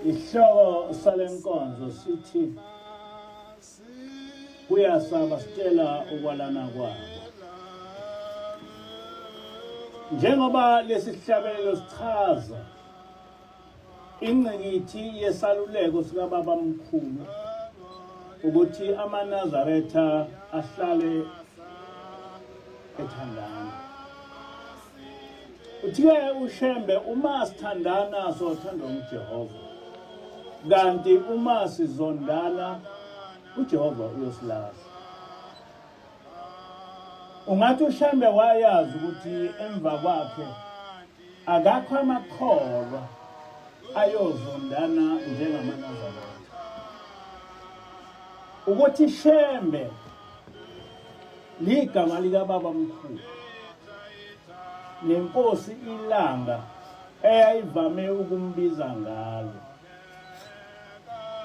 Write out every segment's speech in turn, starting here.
Isihloko salenkonzo sithi kuyasaba sitshela ukwalana kwabo. Njengoba lesihlabelelo sichaza ingqikithi yesaluleko sikababa mkhulu ukuthi amaNazaretha ahlale ethandana. Uthiwe uShembe uma sithandana sothandwa nguJehova. Kanti uma sizondana uJehova uyosilahla. Ungathi uShembe wayazi ukuthi emva kwakhe akakho amakholwa ayozondana njengamanazarete. Ukuthi Shembe ligama likababa mkhulu nenkosi ilanga eyayivame ukumbiza ngalo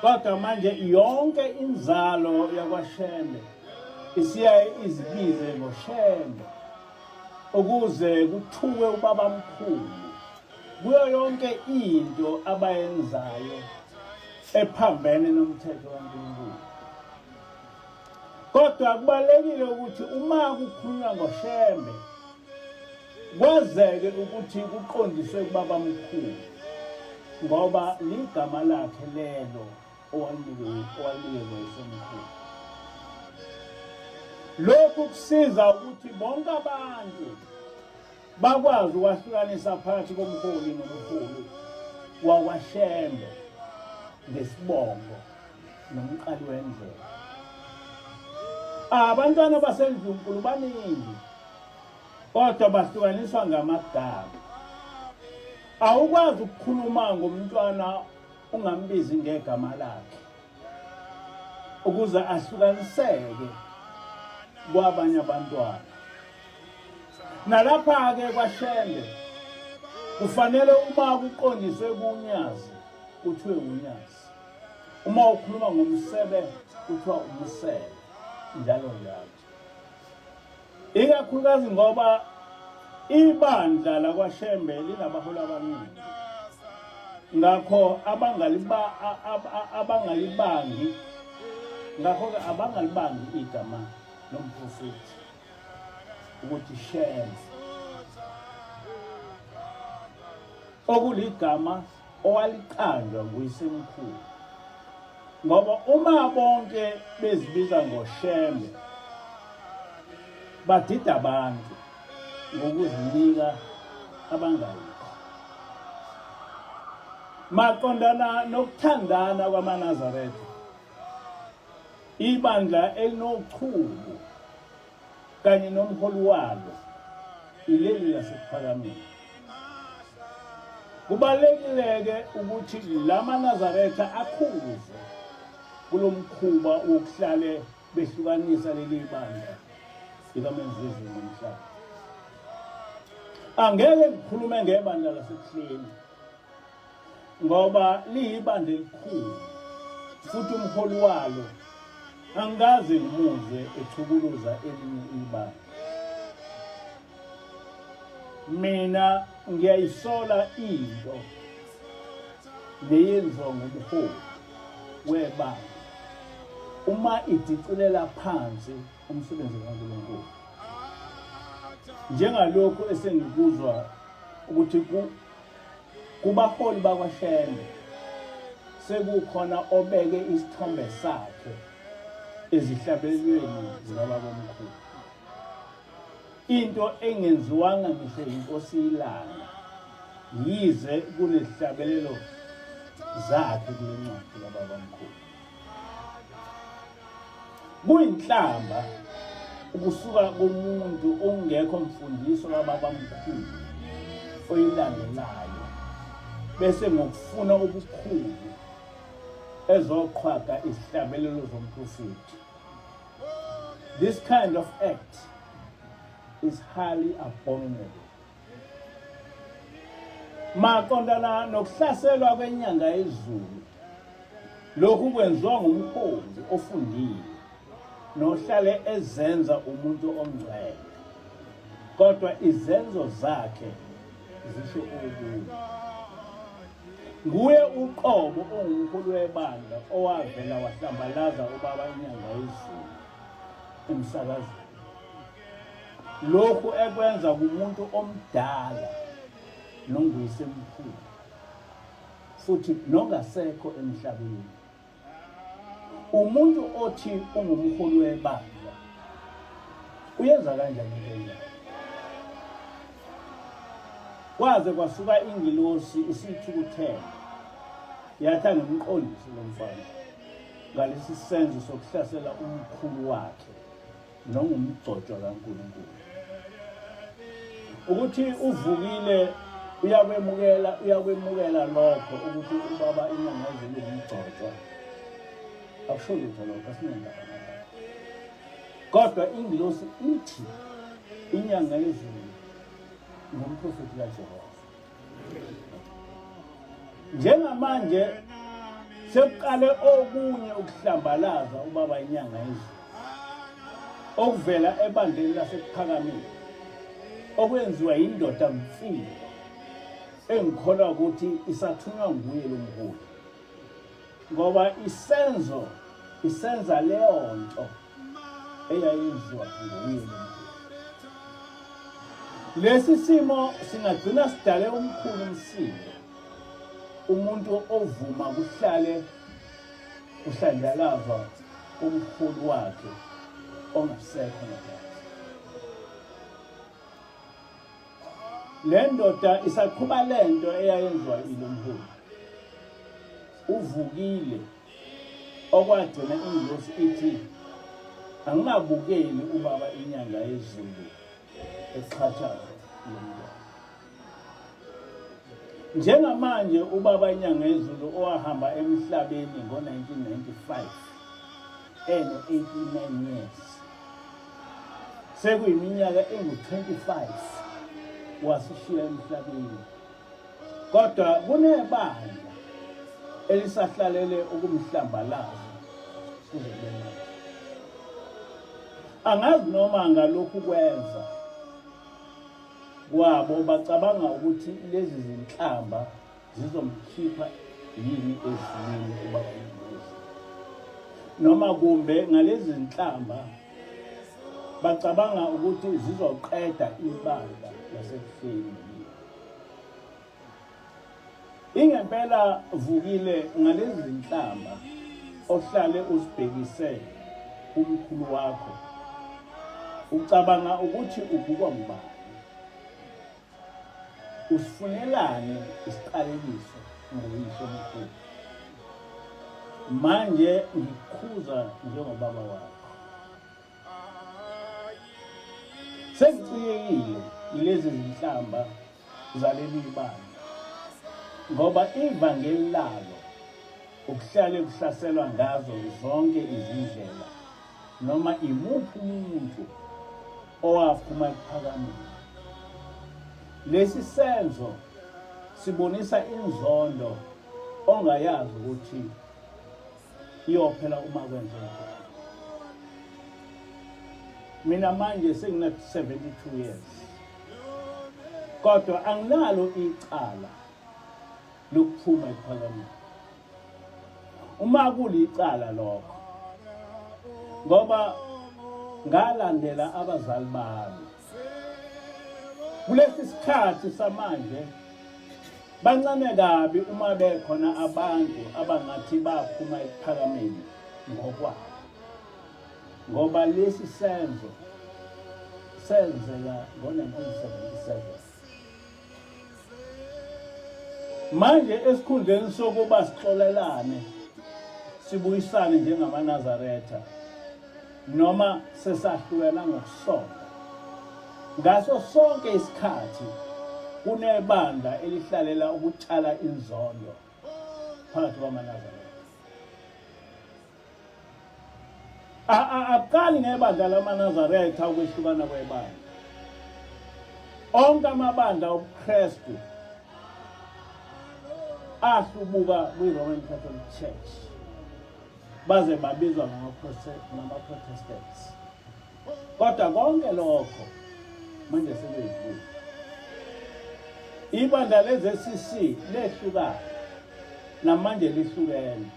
kodwa manje yonke inzalo yakwashembe isiyaye izibize ngoshembe ukuze kuthuke ubaba mkhulu kuyo yonke into abayenzayo ephambene nomthetho kaNkulunkulu kodwa kubalulekile ukuthi uma kukhulunywa ngoshembe kwazeke ukuthi kuqondiswe kubaba mkhulu ngoba ligama lakhe lelo owalinikwe isemkhulu lokhu kusiza ukuthi bonke abantu bakwazi ukwahlukanisa phakathi komholi nomholi wakwashembe ngesibongo nomqali wendlela abantwana basendlunkulu baningi kodwa bahlukaniswa ngamagama awukwazi ukukhuluma ngomntwana ungambizi ngegama lakhe ukuze ahlukaniseke kwabanye abantwana nalapha-ke kwashembe kufanele uma kuqondiswe kunyazi kuthiwe unyazi uma ukhuluma ngomsebe kuthiwa umsebe njalo njalo ikakhulukazi ngoba ibandla lakwashembe linabaholi abaningi ngakho abangaliba abangalibangi ngakho ke abangalibangi igama lomprofethi ukuthi shembe okuligama owaliqanjwa nguyisemkhulu ngoba uma bonke bezibiza ngoshembe badida abantu ngokuzinika abangayikho maqondana nokuthandana kwamanazaretha ibandla elinochuku kanye nomholi walo ileli lasekuPhakameni. Kubalekileke ukuthi lama Nazaretha akhuze kulomkhuba wokuhlale behlukanisa leli bandla likaMenzizi nomhlaba. Angeke ngikhulume ngebandla laseBuhleni. ngoba liyibandla elikhulu futhi umholi walo angikaze ngimuzwe echukuluza elinye ibandla mina ngiyayisola into leyenziwa ngumholi webandla uma idicilela phansi umsebenzi kaNkulunkulu njengalokhu esengikuzwa ukuthi Kubaholi bakwaShembe sekukhona obeke isithombe sakhe ezihlabelweni zikabakomkhulu. Into engenziwanga ngisho yinkosi ilanga yize kunezihlabelelo zakhe kule ncwadi kababamkhulu. kuyinhlamba ukusuka komuntu ongekho mfundiso kababamkhulu oyilandelayo bese ngokufuna ubukhulu ezoqhwaga izihlabelelo zomprofethi this kind of act is highly abominable maqondana nokuhlaselwa kwenyanga yezulu lokhu kwenziwa ngumkhonzi ofundile nohlale ezenza umuntu ongcwele kodwa izenzo zakhe zisho okunye nguye uqobo ongumkhulu webandla owavela wahlambalaza ubaba inyanga yezulu emsakazweni lokhu ekwenza kumuntu omdala nonguyisemkhulu futhi nongasekho emhlabeni umuntu othi ungumholi webandla uyenza kanjani into kwaze kwasuka ingilosi isithukuthela yathi angimqondise lo mfana ngalesi senzo sokuhlasela umkhulu wakhe nongumgcotshwa kaNkulunkulu ukuthi uvukile uyakwemukela uyakwemukela lokho ukuthi ubaba inyanga ezulu ngumgcotshwa akusho lutho lokho asinendaba kodwa ingilosi ithi inyanga yezulu ngumprofethi kajehova njengamanje sekuqale okunye ukuhlambalaza ubaba inyanga yezulu okuvela ebandleni lasekuphakamile okwenziwa yindoda mfile engikholwa ukuthi isathunywa nguye lo mholi ngoba isenzo isenza leyo nto eyayizwa nguye lesi simo singagcina sidale umkhulu umsindo umuntu ovuma kuhlale kuhlanjalazwa umkhulu wakhe ongasekho ngaphandle le ndoda isaqhuba le nto eyayenziwa ilomholi uvukile okwagcina ingosi ithi angingabukeli ubaba inyanga yezulu esichatshaza nomntwana njengamanje ubaba inyanga yezulu owahamba emhlabeni ngo-1995 eno-89 years sekuyiminyaka engu-25 wasishiya emhlabeni kodwa kunebandla elisahlalele ukumhlambalaza kuze kube manje angazi noma ngalokhu kwenza kwabo bacabanga ukuthi lezi zinhlamba zizomkhipha yini ezimini ubakubuza noma kumbe ngalezi zinhlamba bacabanga ukuthi zizoqeda ibandla lasekufeni Ingempela vukile ngalezi zinhlamba ohlale uzibhekise kumkhulu wakho. Ucabanga ukuthi ubukwa ngubani? Usifunelani isiqalekiso ngoyise omkhulu? Manje ngikukhuza njengobaba wakho. Sengicikekile yilezi zinhlamba zaleli ibanga ngoba ivangeli lalo ukuhlale kuhlaselwa ngazo zonke izindlela noma imuphi umuntu owaphuma ekuphakameni lesi senzo sibonisa inzondo ongayazi ukuthi iyophela uma kwenzeka mina manje sengina 72 years kodwa anginalo icala lokuphuma ephakameni uma kulicala lokho ngoba ngalandela abazali bami Kulesi sikhathi samanje bancane kabi uma bekhona abantu abangathi baphuma ekuphakameni ngokwabo ngoba lesi senzo senzeka ngo-1977 manje esikhundleni sokuba sixolelane sibuyisane njengamaNazaretha noma sesahlukana ngokusonga ngaso sonke isikhathi kunebandla elihlalela ukutshala inzondo phakathi kwamaNazaretha Akuqali ngebandla lamaNazaretha ukwehlukana kwebandla. Onke amabandla obuKristu ahlubuka kwi-Roman Catholic Church baze babizwa ngama-Protestants. Kodwa konke lokho manje sebedlule. Ibandla le-ZCC lehlukana namanje lihlukene.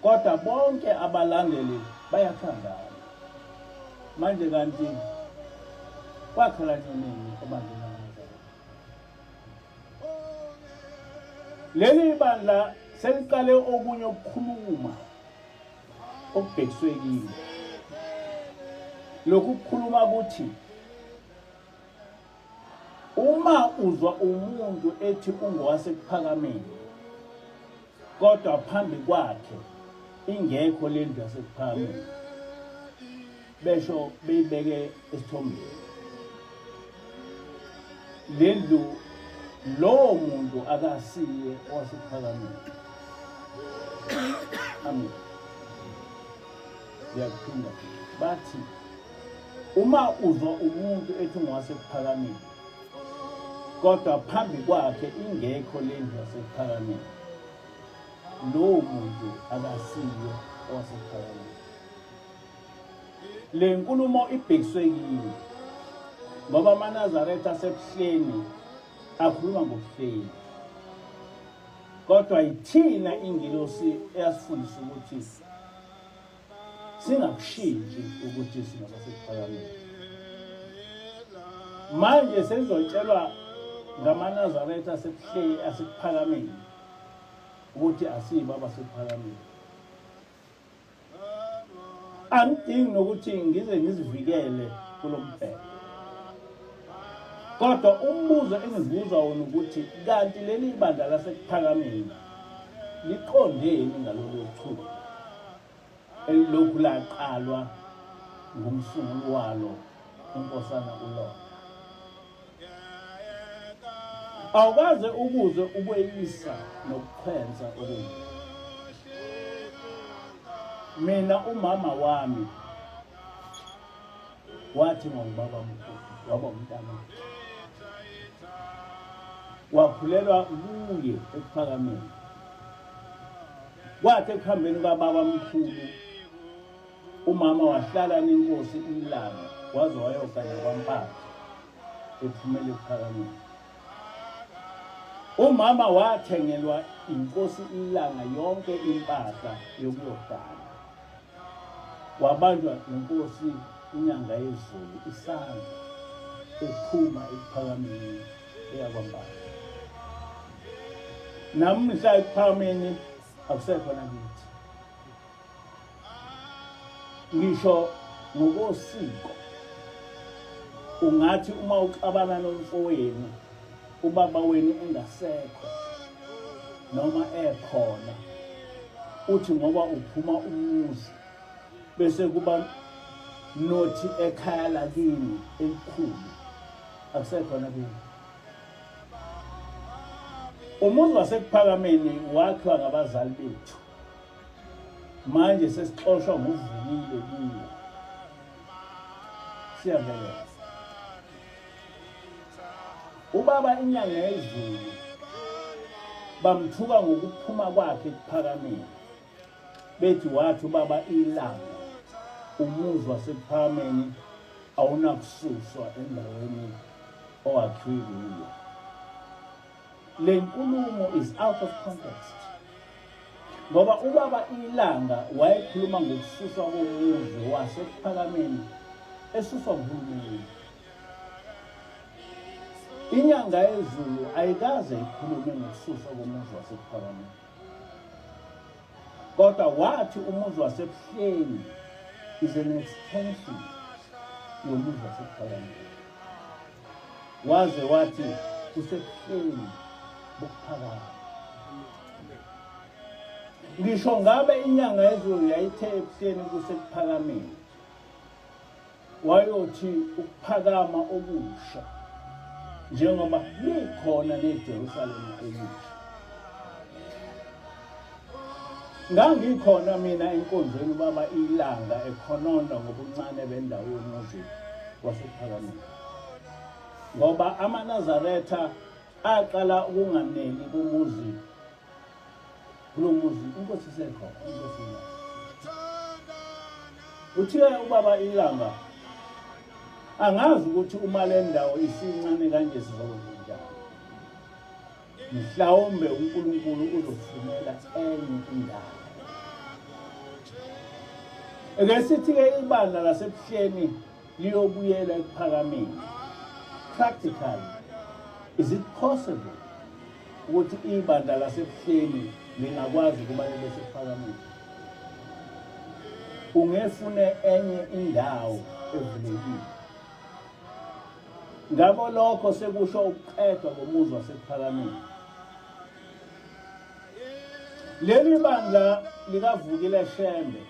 kodwa bonke abalandeli bayathandana manje kanti kwakhala nini ebandleni leli bandla seliqale okunye ukukhuluma okubhekiswe kini lokhu kukhuluma ukuthi Uma uzwa umuntu ethi ungowasekuphakameni kodwa phambi kwakhe ingekho le ndlu yasekuphakameni besho beyibeke esithombeni le ndlu lowo muntu akasiye owasekuphakameni amen ngiyakuphinda bathi Uma uzwa umuntu ethi ungowasekuphakameni kodwa phambi kwakhe ingekho le ndlu yasekuphakameni, lowo muntu akasiyo owasekuphakameni. Le nkulumo ibhekiswe kimi ngoba amaNazaretha asebuhleni akhuluma ngobuhleni kodwa yithina ingilosi eyasifundisa ukuthi singakushintshi ukuthi singaba sekuphakameni manje senizotshelwa ngamanazaretha asekuhleli asekuphakameni ukuthi asiyibo abasekuphakameni angidingi nokuthi ngize ngizivikele kulo mbheko kodwa umbuzo engizibuza wona ukuthi kanti leli bandla lasekuphakameni liqondeni ngalolu chuku elilokhu laqalwa ngumsunguli walo unkosana ulona awukaze ukuze ukweyisa nokukhwenza okunye mina umama wami wathi ngobaba mkhulu waba umntana wakhulelwa kuye ekuphakameni Kwathi ekuhambeni kwababa mkhulu umama wahlala nenkosi umlanga waze wayogana kwampatha ephumele ekuphakanyeni umama wathengelwa inkosi ilanga yonke impahla yokuyogana wabanjwa inkosi inyanga yezulu isandla ephuma ekuphakameni eyakwambala namhla ekuphakameni akusekhona kithi ngisho ngokosiko ungathi uma uxabana nomfowenu ubaba wenu engasekho noma ekhona uthi ngoba uphuma umuzi bese kuba nothi ekhaya lakini elikhulu akusekhona kimi umuzi wasekuphakameni wakhiwa ngabazali bethu manje sesixoshwa nguvukile kuwo siyavelela ubaba inyanga yezulu bamthuka ngokuphuma kwakhe ekuphakameni bethi wathi ubaba ilanga umuzwa sekuphameni awunakususwa endaweni owakhiwe kuyo le nkulumo is out of context ngoba ubaba ilanga wayekhuluma ngokususwa komuzwe wasekuphakameni esuswa nguhulumeni inyanga yezulu ayikaze ikhulume ngokususwa komuzwe wasekuphakameni kodwa wathi umuzi wasebuhleni is an extension yomuzi wasebuphakanyeni waze wathi usebuhleni bokuphakama ngisho ngabe inyanga yezulu yayithe ebuhleni kusekuphakameni Wayothi ukuphakama okusha njengoba likhona neJerusalema elisha. Ngangikhona mina enkonzweni baba ilanga ekhononda ngobuncane bendawo yomuzi wasephakameni. Ngoba amaNazaretha aqala ukunganeli kumuzi kulo muzi inkosi isekho inkosi ilanga uthiwe ubaba ilanga angazi ukuthi uma le ndawo isincane kanje sizokwenzenjani mhlawumbe unkulunkulu uzofunela enye indawo eke sithi-ke ibandla lasebuhleni liyobuyela ekuphakameni practically is it possible ukuthi ibandla lasebuhleni lingakwazi ukuba libe sekuphakameni ungefune enye indawo evulekile ngabo lokho sekusho ukuqedwa komuzi wasekuphakameni leli bandla likavukile shembe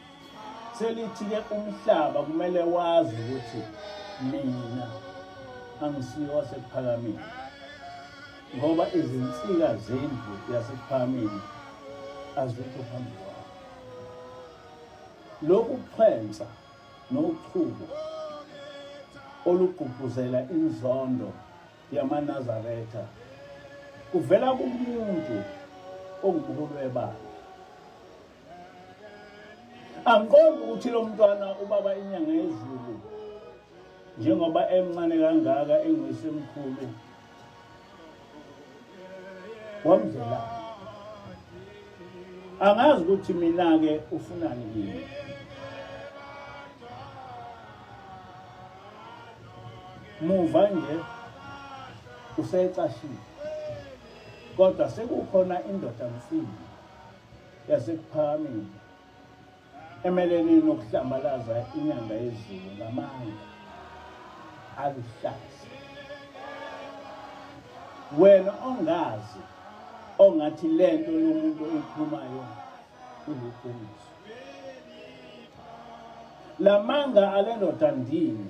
selithike umhlaba kumele wazi ukuthi mina angisiyo wasekuphakameni ngoba izinsika zendlu yasephamini azikho phambi kwakho lokhu kuxhensa nochubo olugqugquzela inzondo yamanazaretha kuvela kumuntu ongubuhulu webandla angiqondi ukuthi lo mntwana ubaba inyanga yezulu njengoba emncane kangaka enguyisemkhulu wamzela angazi ukuthi mina ke ufunani kimi muva nje usecashile kodwa sekukhona indoda mfini yasekuphakameni emelene nokuhlambalaza inyanga yezulu ngamanga aluhlaza wena ongazi ongathi le nto yomuntu oyikhulumayo uliqiniso la manga ale ndoda ndini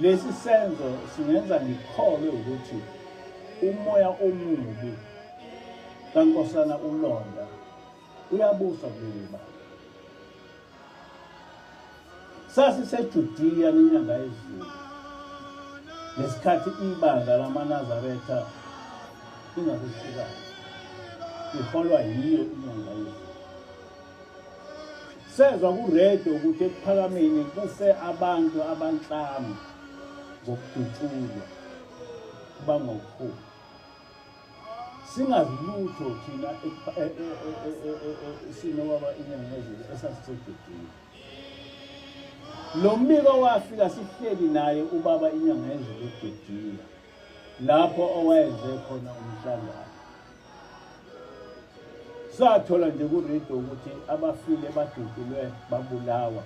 Lesi senzo singenza ngikholwe ukuthi umoya omubi kaNkosana uLonda uyabusa kuleli bala. SasiseJudiya nenyanga yezulu ngesikhathi ibandla lamaNazaretha ingakuhlukana iholwa yiyo inyanga yezulu. Sezwa kuredo ukuthi ekuphakameni kufe abantu abanhlanu ngokudutshulwa bangokuphuma singazi lutho thina isimo baba inyangezile esasisegedini lo mbiko wafika sihleli naye ubaba inyangezile egedini lapho owayenze khona umhlangano sathola nje kurido ukuthi abafile badudulwe babulawa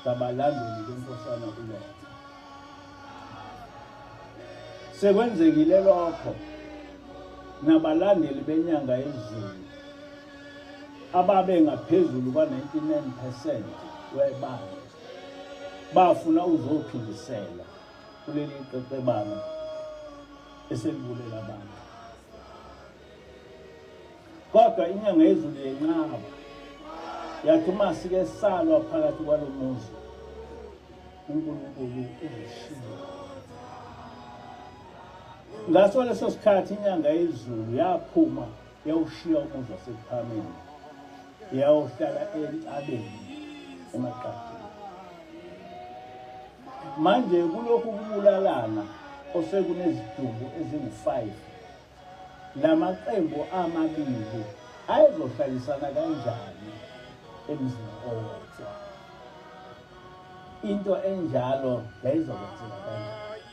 ngabalandeli benkosana uletha sekwenzekile lokho nabalandeli benyanga yezulu ababe ngaphezulu kwa-99 percent webandla bafuna uzophindisela kuleli qeqebana eselibulela abantu kodwa inyanga yezulu yenqaba yathi uma sike salwa phakathi kwalo muzi unkulunkulu uzishilo ngaso leso sikhathi inyanga yezulu yaphuma yawushiya umuzi wasekuphameni yawuhlala entabeni emaqadini manje kulokhu kubulalana osekunezidumbu ezingu-5 la maqembu amabili ayezohlalisana kanjani emzini owodwa into enjalo yayizokwenzeka kanjani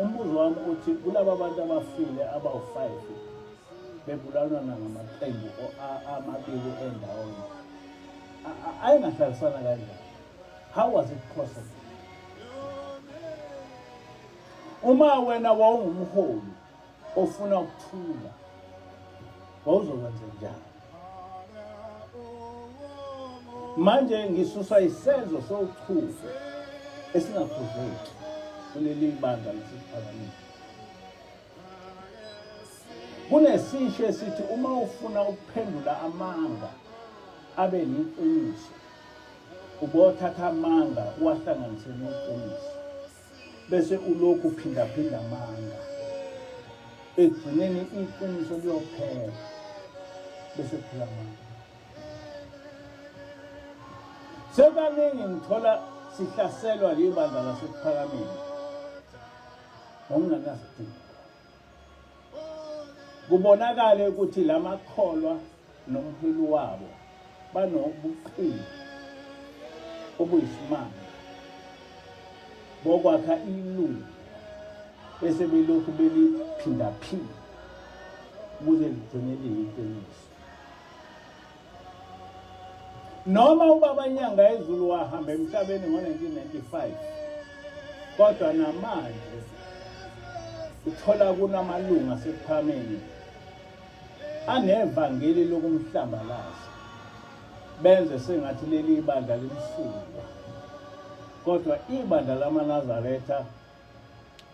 umbuzo wami uthi kulaba bantu abafile abawu-five bebulalwana ngamaqembu amabili endawonye ayengahlalisana kanjani how was it possible uma wena wawungumholi ofuna ukuthula wawuzokwenza njani manje ngisusa isenzo sokuthula esingakhuzeki kuleli bandla lesiphakamile kunesisho esithi uma ufuna ukuphendula amanga abe yiqiniso ubothatha amanga uwahlanganise neqiniso bese ulokhu uphindaphinda amanga ekugcineni iqiniso liyophela bese kuphela amanga sebaningi ngithola sihlaselwa libandla lasekuphakameni ngokungenasidingo Kubonakale ukuthi lamakholwa nomholi wabo banobuqili obuyisimanga bokwakha ilungu bese belokhu beliphindaphinda ukuze ligcine liyiqiniso noma ubaba nyanga ezulu wahamba emhlabeni ngo-1995 kodwa namanje uthola kunamalungu asekuphameni anevangeli lokumhlambalaza benze sengathi leli ibandla limsulwa kodwa ibandla lamanazaretha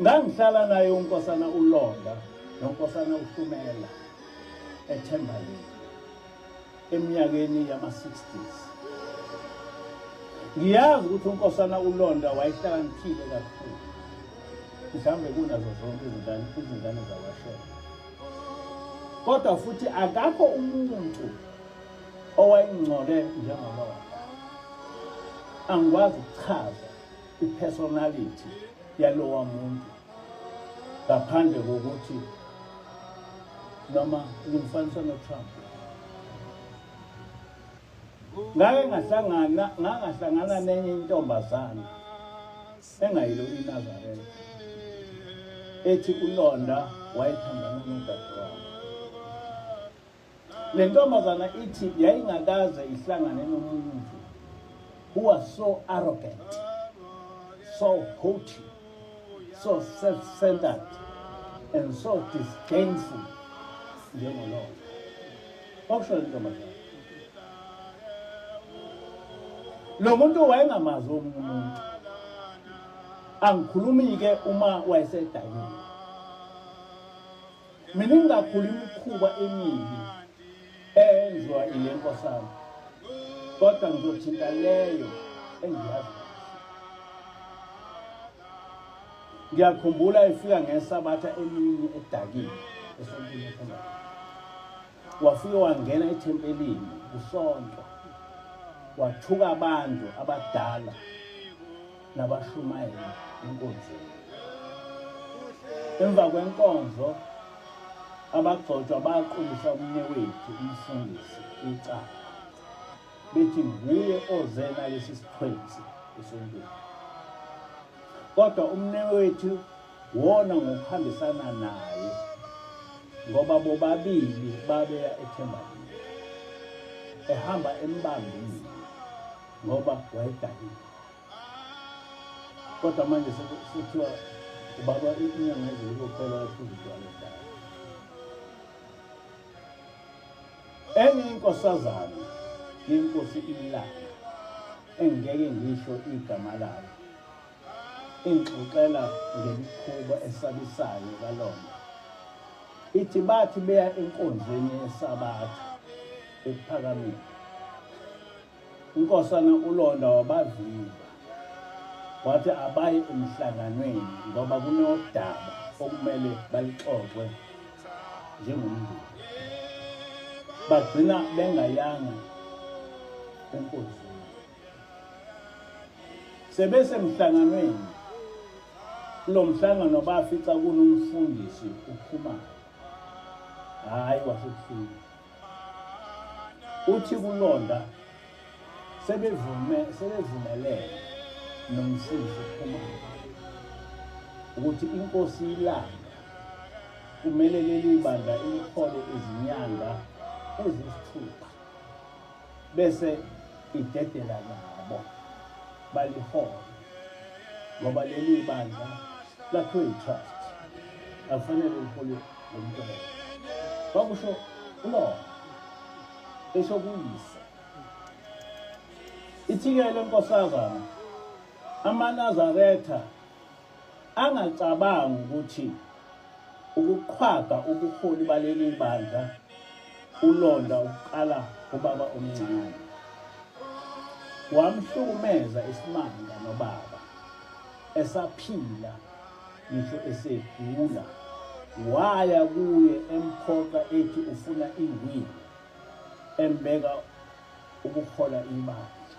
ngangihlala naye unkosana ulonda nonkosana uhlumela ethembaleni eminyakeni yama-60s ngiyazi ukuthi unkosana ulonda wayehlakaniphile kakhulu mhlawumbe kunazo zonke izingane izingane zakwashela kodwa futhi akakho umuntu owayengcole njengalona angikwazi ukuchaza ipersonality yalowa muntu ngaphandle kokuthi noma ngimfanisa noTrump ngake ngahlangana ngangahlangana nenye intombazana engayilo iNazareth ethi ulonda wayethandana nodadewabo Le ntombazana ithi yayingakaze ihlangane nomuntu who was so arrogant, so haughty, so self-centered, and so disdainful njengolona. Okusho le ntombazana. Lo muntu wayengamazi omunye umuntu. Angikhulumi-ke uma wayesedakile. miningi kakhulu imikhuba emibi eyenziwa ile nkosana kodwa ngizothinta leyo engiyazi ngiyakhumbula efika ngesabatha emini edakile esontini ekhona wafike wangena ethempelini kusonto wathuka abantu abadala nabashumayeli enkonzweni. Emva kwenkonzo abagcotshwa baqulisa umnye wethu umfundisi icala bethi nguye oze nalesi sithwenzi esontweni kodwa umne wethu wona ngokuhambisana naye ngoba bobabili babeya ethembakini ehamba embambile ngoba wayedakile kodwa manje sekuthiwa ubaba inyanga ezulu kuphela yaphuza utshwala ekhaya enye inkosazana yenkosi ilanga engeke ngisho igama layo ingixoxela ngemikhuba esabisayo kalona ithi bathi beya enkonzweni yesabatha ekuphakameni UNkosana uLonda wabavimba wathi abaye emhlanganweni ngoba kunodaba okumele balixoxe njengomndeni. Bagcina bengayanga enkonzweni. Sebesemhlanganweni kulo mhlangano bafica kunomfundisi ukhumalo hhayi wasebusuku uthi kulonda sebevume sebevumelene nomfundisi uphuma ukuthi inkosi ilanga kumele leli bandla ilithole izinyanga ezisithupha bese idedela nabo balihole ngoba leli bandla lakhiwe yi-trust akufanele lihole lo mntwana kwakusho ulona esho kuyise ithikele nkosazana amanazaretha angacabangi ukuthi ukuqhwaga ubuholi baleli bandla ulonda ukuqala ubaba omncane wamhlukumeza isimanga nobaba esaphila ngisho esegula waya kuye emphoqa ethi ufuna ingwini embeka ukuhola ibandla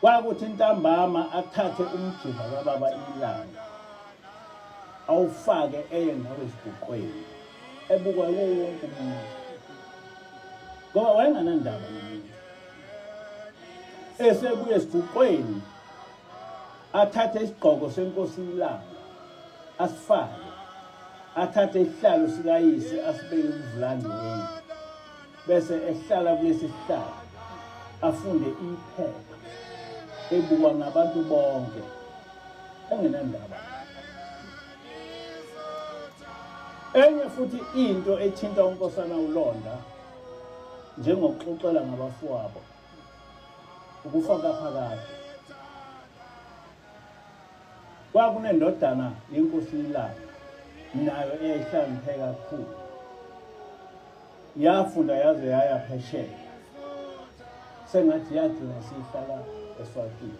Kwakuthi ntambama athathe umjima kababa ilanga awufake eye nawe esibhuqweni ebukwa yiwo wonke umuntu ngoba wayenganandaba nomuntu esebuye esibhuqweni athathe isigqoko senkosi ilanga asifake athathe isihlalo sikayise asibeke umvulandi wendlu bese ehlala kulesi sihlalo afunde iphepha ebukwa ngabantu bonke engenandaba enye futhi into ethinta unkosana ulonda njengokuxoxela ngabafowabo ukufa kaphakade kwakunendodana yenkosi ilanga nayo eyayihlangiphe kakhulu yafunda yaze yaya phesheya sengathi yagcina sihlala eswatini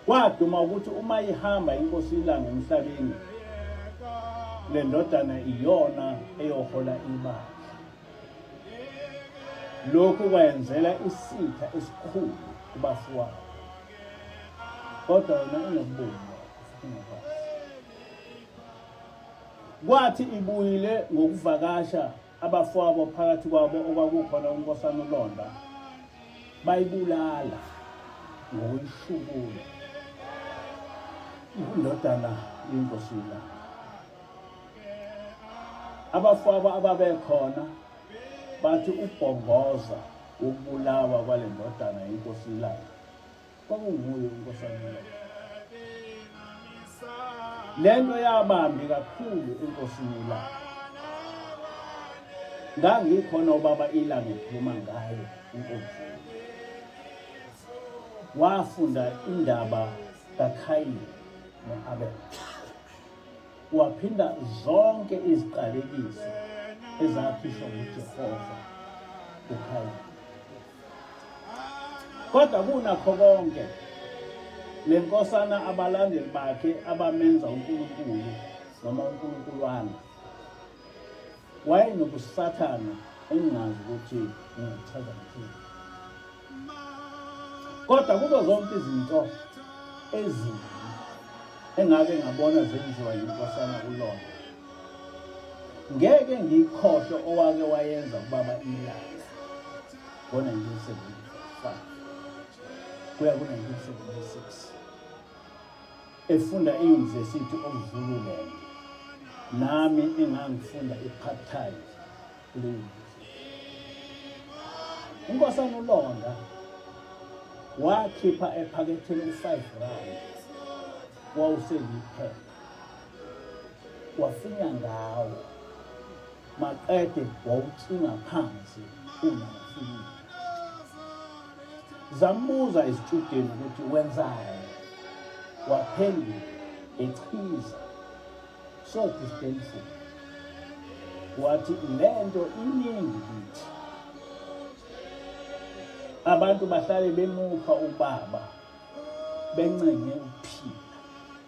kwaduma ukuthi uma ihamba inkosi ilanga emhlabeni le ndodana iyona eyohola ibandla lokhu kwayenzela isitha esikhulu kubafowabo kodwa yona inokubonga Kwathi ibuyile ngokuvakasha abafowabo phakathi kwabo okwakukhona uNkosana uLonda bayibulala ngokushukula indodana yenkosi uLonda. Abafowabo ababekhona bathi ubhongoza ukubulawa kwale ndodana yenkosi uLonda kwakunguye uNkosana Mlotshwa. Le nto yabambi kakhulu enkosini ilanga. Ngangikhona ubaba ilanga ekhuluma ngayo inkosi. Wafunda indaba kaKhayini no-Abel. Waphinda zonke iziqalekiso ezakhishwa nguJehova kuKhayini. kodwa kunakho konke le nkosana abalandeli bakhe abamenza unkulunkulu noma unkulunkulwana wayenobusathana engingazi ukuthi ngichaza ngithini kodwa kuzo zonke izinto ezimbi engake ngabona zenziwa yinkosana kulona ngeke ngiyikhohlwe owake wayenza kubaba imilazi ngo-1975 kuya ku-1976 efunda eyunivesithi okuzululand nami engangifunda i-part time unkosana ulonda wakhipha ephaketheni u-five rand wawusengiphepha wafinya ngawo maqede wawucinga phansi ungafikile zambuza isitshudeni ukuthi wenzani waphendula echiza sothi isiqiniseko wathi le nto iningi kithi abantu bahlale bemupha ubaba bencenge ukuphila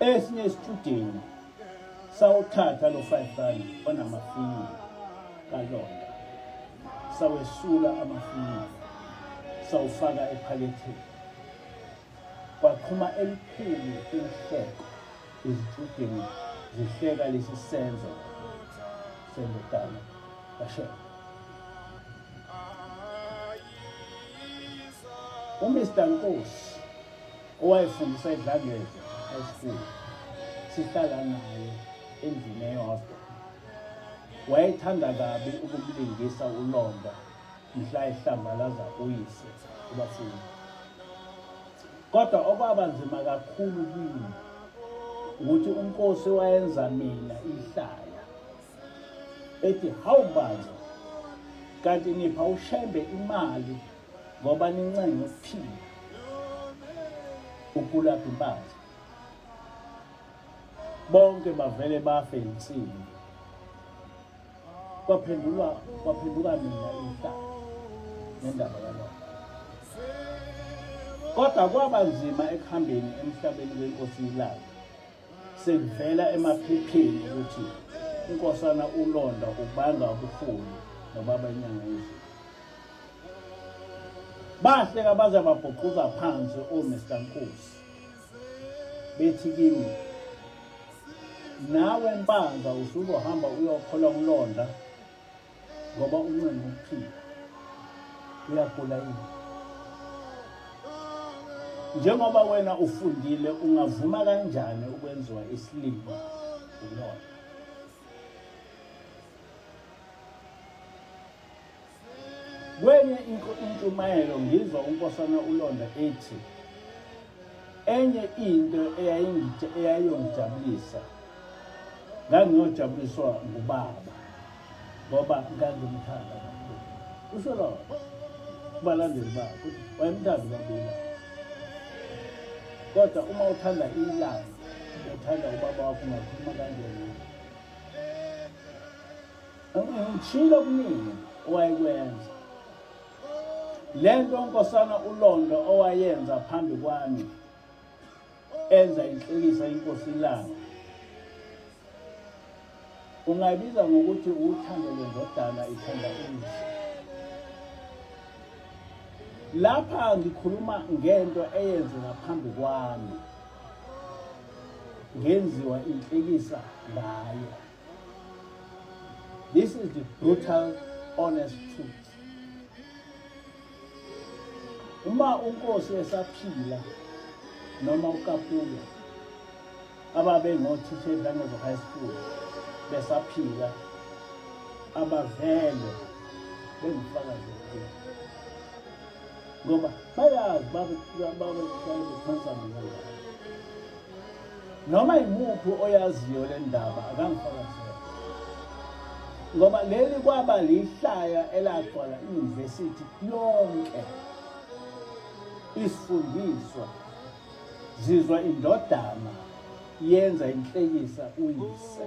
esinye isitshudeni sawuthatha lo 5 rand onamafinya kalonda sawesula amafinya sawufaka ephaketheni kwaqhuma elikhulu inhleko izitshudeni zihleka lesi senzo sendodana kashela umr nkosi owayefundisa edlangezwe high school sihlala naye endlini eyodwa wayethanda kabi ukumlingisa ulonda mhla ehlambalaza uyise ubafundi kodwa okwaba nzima kakhulu kimi ukuthi unkosi wayenza mina ihlaya ethi hawu bantu kanti nipha ushembe imali ngoba nincenga ukuphila ukulapha impahla bonke bavele bafe insini kwaphendulwa kwaphenduka mina inhlaka nendaba yalokho kodwa kwaba nzima ekuhambeni emhlabeni wenkosi ilanga Sekuvela emaphepheni ukuthi uNkosana uLonda ubanga ubuholi nobaba inyanga yezulu. Bahle kabaze babhuquza phansi uMr Nkosi. Bethi kimi nawe mpanza usuzohamba uyokhola uLonda ngoba uncenga ukuphila uyagula yini njengoba wena ufundile ungavuma kanjani ukwenziwa isilima ulona kwenye intshumayelo ngizwa unkosana ulonda ethi enye into eyayiyongijabulisa ngangiyojabuliswa ngubaba ngoba ngangimthanda kakhulu kusho lona kubalandeli bakhe ukuthi wayemthanda ubabila kodwa uma uthanda ilanga uthanda ubaba wakho ungakhuluma kanjena ngishilo kuningi owayekwenza le nto unkosana ulondo owayenza phambi kwami enza inhlekisa inkosi ilanga ungayibiza ngokuthi uthando lwendodana ithanda umzi lapha ngikhuluma ngento eyenze ngaphambi kwami ngenziwa inhlekisa ngayo this is the brutal honest truth uma unkosi esaphila noma ukapuya ababengothisha edlangezo high school besaphila abavele bengifakazi okukhulu ngoba bayazi babekuthaza mina noma yimuphi oyaziyo le ndaba akangifakazele ngoba leli kwaba lihlaya elagcwala iyunivesithi yonke isifundiswa zizwa indodana yenza inhlekisa uyise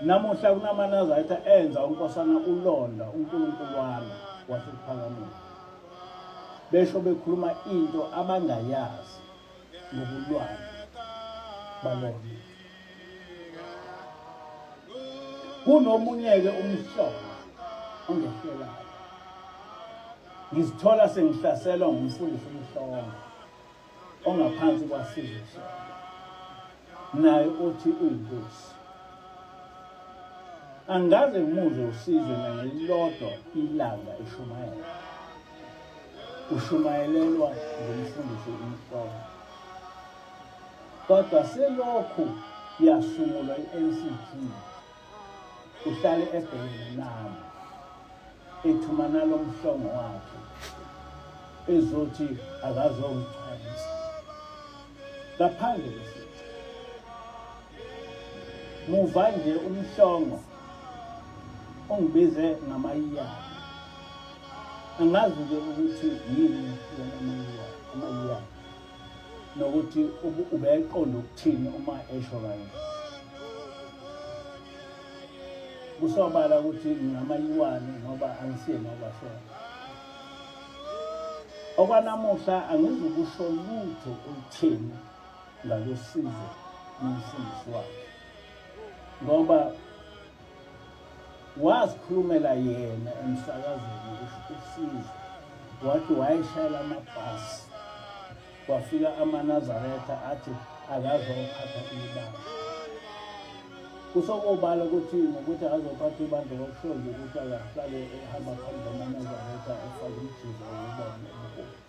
namuhla kunamanazaretha enza unkosana ulonda unkulunkulu wami wasekuphakamiwe besho bekhuluma into abangayazi ngobulwane balona kunomunye-ke umhlobo ongehlelayo ngizithola sengihlaselwa ngumfundisi umhlongo ongaphansi kwasizwe naye uthi uyinkosi angaze ngimuzwe usizwe nangelilodwa ilanga eshumayela ushumayelelwa ngumfundisi umhlolo kodwa selokhu yasungulwa i-ncp uhlale ebhekene nami ethuma nalo mhlongo wakhe ezothi akazongigcwalisa ngaphandle kwesici muva nje umhlongo ungibize ngamayiyana angazi-ke ukuthi yini yona amayiyana nokuthi ubeqonda ukuthini uma esho kanje kusobala ukuthi ngingamayiwane ngoba angisiye nokwasona okwanamuhla angizukusho lutho olutheni ngalosizo nomfundisi wakhe ngoba wazikhulumela yena emsakazweni usizo wathi wayeshayela amabhasi kwafika amanazaretha athi akazophatha ibandla kusokobala ukuthi ngokuthi akazophatha ibandla kokuhlonza ukuthi akahlale ehamba phambi kwamanazaretha efake umjiza wokubona ubuholi